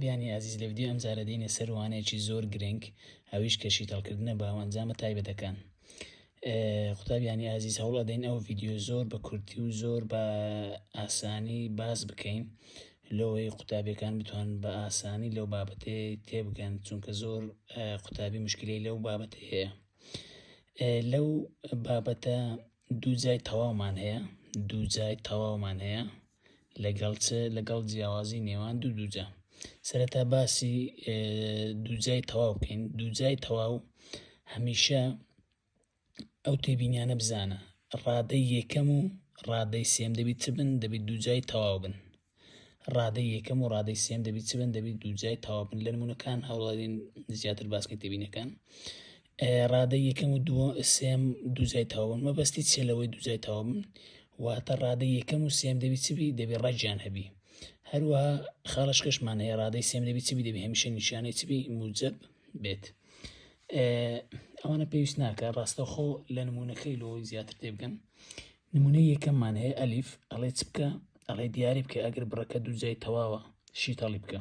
بیانی ئازیز لە ڤیدیۆی ئەمجارە دێینە سەر وانەیەکی زۆر گرنگ ئەویش کە شیتەڵکردنە باو ئەنجامە تایبەتەکان قوتابیانی ئازیز هەوڵ ئەدەین ئەو ڤیددیو زۆر بە کورتی و زۆر بە ئاسانی باس بکەین لەوەی قوتابیەکان بتوان بە ئاسانی لەو بابەتێ تێبگەن چونکە زۆر قوتابی مشکلی لەو بابەت هەیە لەو بابەتە دوو جای تەواومان هەیە دوو جای تەواومان هەیە لەگەڵ چ؟ لەگەڵ جیاوازی نێوان دوو دووجا. سەرەتا باسی دووجای تەواو بکەین دووجای تەواو هەمیشە ئەو تێبینیانە بزانە ڕادەی یەکەم و ڕادەی سێم دەبیت چ بن دەبیت دووجای تەواو بن ڕادەی یەکەم و ڕادەی سێم دەبیت چ بن دەبیت دووجای تەواو بن لە نمونونەکان هەوڵدین زیاتر باسکە تێبینەکان ڕادەی یەکەم و دووە سێم دووجای تاوبن مەبەستی چێ لەوەی دووجای تاوبن واتە ڕادەی یەکەم و سێم دەبی چبی دەبی ڕەجیان هەبی هەروە خاڵش کەشمان هەیە ڕادەی سێم دەبی چبی دەبی هەمیشە نیشانەی چبی موجب بێت ئەوانە پێویست ناکە ڕاستەخۆ لە نمونونەکەی لۆ زیاتر تێبگەن نمونە یەکەممان هەیە ئەلیف ئەڵێ چ بکە ئەڵێ دیاری بکە ئەگەر بڕەکە دووجای تەواوە شیتەڵی بکە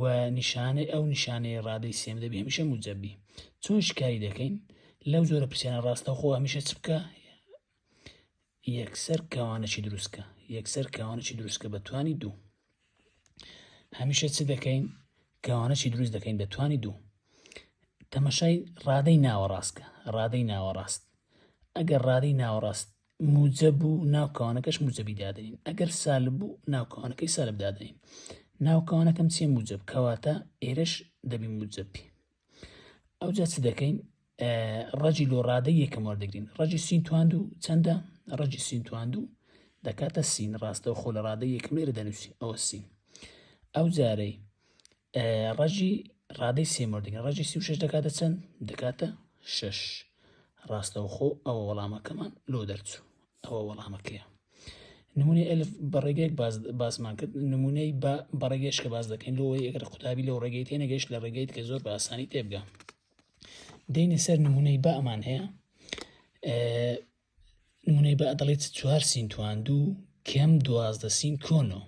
و نیشانەی ئەو نیشانەی ڕادەی سێم دەبی هەمیشە موجەبی چۆن شکاری دەکەین لەو جۆرە پرسیانە ڕاستەوخۆ هەمیشە چ بکە یەکسەر کەوانەی دروستکە یەکسەر کەوانەی دروستکە بە توانی دوو هەمیشە چ دەکەین کەوانەی دروست دەکەین بە توانی دوو تەمەشای ڕادەی ناوەڕاستکە ڕادەی ناوەڕاست ئەگەر ڕادەی ناوەڕاست موجە بوو ناوکانەکەش موجەبی دادەین ئەگەر سال بوو ناوکانەکەی سالب دادەین ناوکانەکەم چێ موجب کەواتە ئێرەش دەبی موجبی ئەو جا چ دەکەین ڕەجی لۆ ڕادە یەکەم وەردەگرین ڕەجی سین تواند و چەندە ڕەجی سین تواند و دەکاتە سین ڕاستە و خۆ لە ڕادە یەکەم لێرە دەنووسین ئەوە سین ئەو جارەی ڕەجی ڕادەی سێ مردگە ڕەجی سی و شش دەکاتە چەند دەکاتە شش ڕاستەوخۆ ئەوە وەڵامەکەمان لۆ دەرچوو ئەوە وەڵامەکەیە نمونەی ئەلف بە ڕێگەیەک باسمان کرد نمونەی بە بەڕێگەش کە باز دەکەین لۆ یەکرە قوتابی لەو ڕێگەی تێ نەگەشت لە ڕێگەیت کە زۆر بە ئاسانی تێبگە دێنە سەر نمونەی بەمان هەیە نمونەی با دەڵێت چوار سین توان دوو کەم دوازدە سین کۆنۆ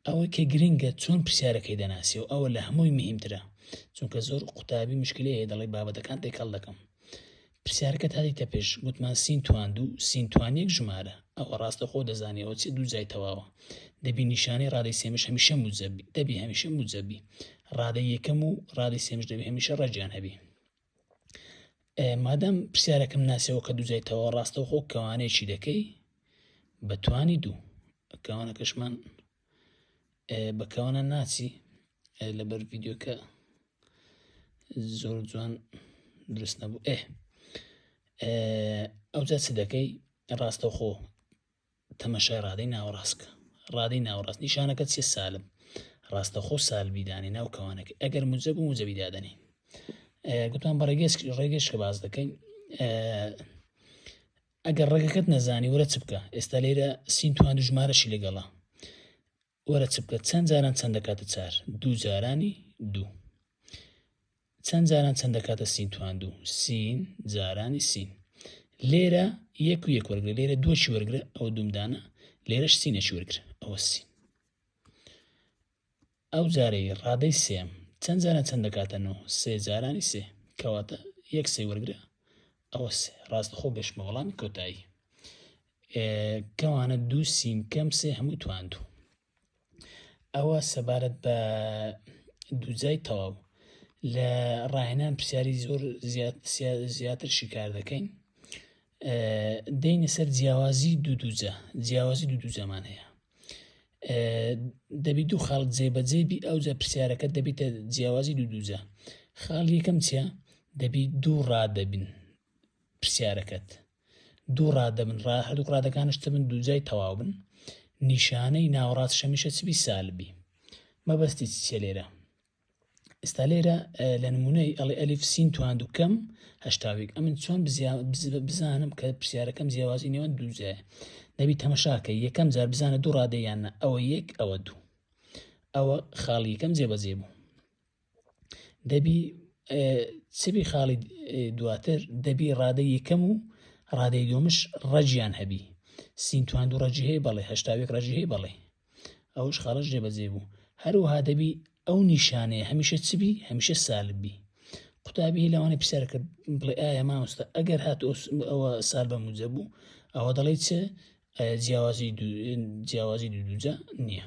ئەوە کە گرنگە چۆن پرسیارەکەی دەناسی و ئەوە لە هەمووی مهمترە چونکە زۆر قوتابی مشکلەیە دەڵێ بابەتەکان تێکەڵ دەکەم پرسیارەکە تاریتە پێش گوتمان سین توان دوو سین توان یەک ژمارە ئەوە ڕاستە خۆ دەزانیەوە چی دوو جای تەواوە دەبی نیشانەی ڕادەی سێمش هەمیشە موجەبی دەبی هەمیشە موجەبی ڕادە یەکەم و ڕادەی سێمش دەبی هەمیشە ڕەجیان هەبی مادام پرسیارەکەم ناسیەوە کە دوزیتەوە ڕاستەوخۆ کەوانەیەکی دەکەی بە توانی دوو کەوانەکەشمان بەکەوانە ناچی لەبەر ڤیددیوکە زۆر جوان دروست نەبوو ئێ ئەوجا چ دەکەی ڕاستەوخۆ تەمەشای ڕادەی ناوەڕاست بکە ڕادەی ناوەڕاست نیشانەکە چیە سالب ڕاستەخۆ سالبی دانێ ناو کەوانەکە ئەگەر موجب و موجبی دادەنێ گوتمان بە ڕێگەش ڕێگەش کە باز دەکەین ئەگەر ڕێگەکەت نەزانی ورە چ بکە ئێستا لێرە سین توان ژمارەشی لەگەڵە وەرە چ بکە چەند جاران چەند دەکاتە چار دوو جارانی دوو چەند جاران چەند دەکاتە سین توان دوو سین جارانی سین لێرە یەک و یەک وەرگرە لێرە دووەشی وەرگرە ئەو دومدانە لێرەش سینەشی وەرگرە ئەوە سین ئەو جارەی ڕادەی سێم چەند جارە چەند دەکاتەنەوە سێ جارانی سێ کەواتە یەک سێ وەرگرە ئەوە ڕاست خۆ گەشتمە وەڵامی کۆتایی کەوانە دوو سین کەم سێ هەموو توان دوو ئەوە سەبارەت بە دووجای تەواو لە ڕاهێنان پرسیاری زۆر زیاتر شیکار دەکەین دەینە سەر جیاوازی دوو دووجە جیاوازی دوو دووجەمان هەیە دەبی دوو خاڵ جێبەجێ بی ئەو جە پرسیارەکە دەبیتە جیاوازی دوو دووجە خاڵ یەکەم چە دەبی دوو ڕادەبین پرسیارەکەت دوو ڕادە بن ڕا هەردوو ڕادەکانش چ بن دووجای تەواو بن نیشانەی ناوەڕاست شەمیشە چبی سالبی مەبەستی چیە لێرە ئستا لێرە لە نمونەی ئەڵی ئەلیف سین توان دوکەم هەشتاوێک ئەمن چۆن بزانم کە پرسیارەکەم جیاوازی نێوان دووجای نەبی تەمەشاکە یەکەم جار بزانە دوو ڕادەیانە ئەوە یەک ئەوە دوو ئەوە خاڵی یەکەم جێبەجێ بوو دەبی چبی خاڵی دواتر دەبی ڕادەی یەکەم و ڕادەی دومش ڕەجیان هەبی سینتوان دوو ڕەجی هەیە بەڵێ هەشتاوێک ڕەجی هەیە بەڵێ ئەوش خاڵش جێبەجێ بوو هەروها دەبی ئەو نیشانەیە هەمیشە چبی هەمیشە سالبی قوتابی لەوانەی پرسیار کرد بڵێ ئایا مامۆستا ئەگەر هات ئەوە سال بە موجە بوو ئەوە دەڵێ چ جیاوازی جیاوازی دوو دوجە نییە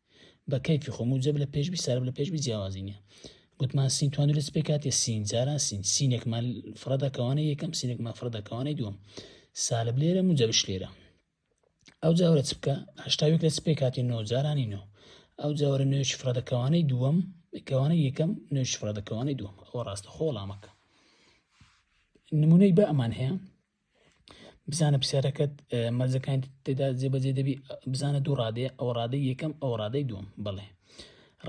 بە کەیفی خۆم و جەب لە پێش بی سارب لە پێش بی جیاوازی نیە گوتمان سین توان لەس پێ کاتێ سین جاران سین سینێکمان فرەدا کەوانە یەکەم سینێکمان فرەدا کەوانەی دووەم سالب لێرە مجەبش لێرە ئەو جاورە چ بکە هەشتاوێک لەس پێ کاتی نۆ جارانی نۆ ئەو جاوەرە نوێش فرەدەکەوانەی دووەم کەوانە یەکەم نوێش فرەدەکەوانەی دووەم ئەوە ڕاستە خۆڵامەکە نمونەی بە ئەمان هەیە بزانە پرسیارەکەت مەرجەکان تێدا جێبەجێ دەبی بزانە دوو ڕادێ ئەو ڕادەی یەکەم ئەو ڕادەی دوم بڵێ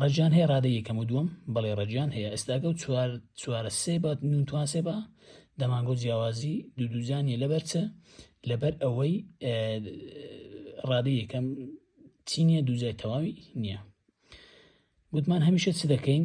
ڕەجان هەیە ڕادە یەکەم و دوم بڵێ ڕەجان هەیە ئێستاگە و چوار چوارە سێ بە نوتوان سێ بە دەمانگۆ جیاوازی دوو دووجانانی لەبەرچە لەبەر ئەوەی ڕادە یەکەم چینە دووجای تەواوی نییە گوتمان هەمیشە چ دەکەین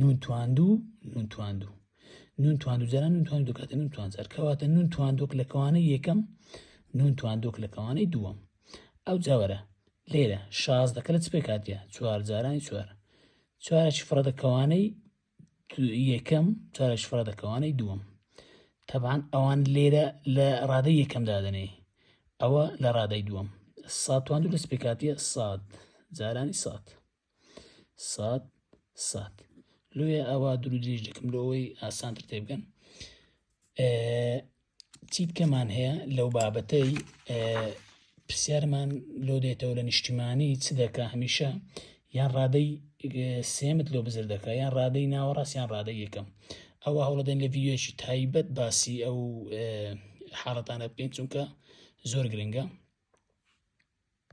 نون تواندو نون تواندو نون تواندو جاران نون تواندو دەکاتە نون توانجار کەواتە نون تواندۆک لە کەوانەی یەکەم نون تواندۆک لە کەوانەی دووەم ئەو جاوەرە لێرە شاز دەکە لە چ پێکاتە چوار جارانی چوار چوارەشی فڕە دەکەوانەی یەکەم چارەش فڕە دەکەوانەی دووەم تەبان ئەوان لێرە لە ڕادەی یەکەم دادنێ ئەوە لە ڕادەی دووەم ساتوان دوو لەسپێکاتە ساد جارانی سات سات سات لێ ئەوە دوو درێژ دەکەم لەوەی ئاسانتر تێبگەن چی بکەمان هەیە لەو بابەتەی پرسیارمان لۆ دێتەوە لە نیشتیمانی چ دەکە هەمیشە یان ڕادەی سێمت لۆ بزر دەکە یان ڕادەی ناوەڕاستیان ڕادە یەکەم ئەوە هەوڵدەن لە ڤیددیوەکی تایبەت باسی ئەو حاڵەتانە بکەین چونکە زۆر گرنگە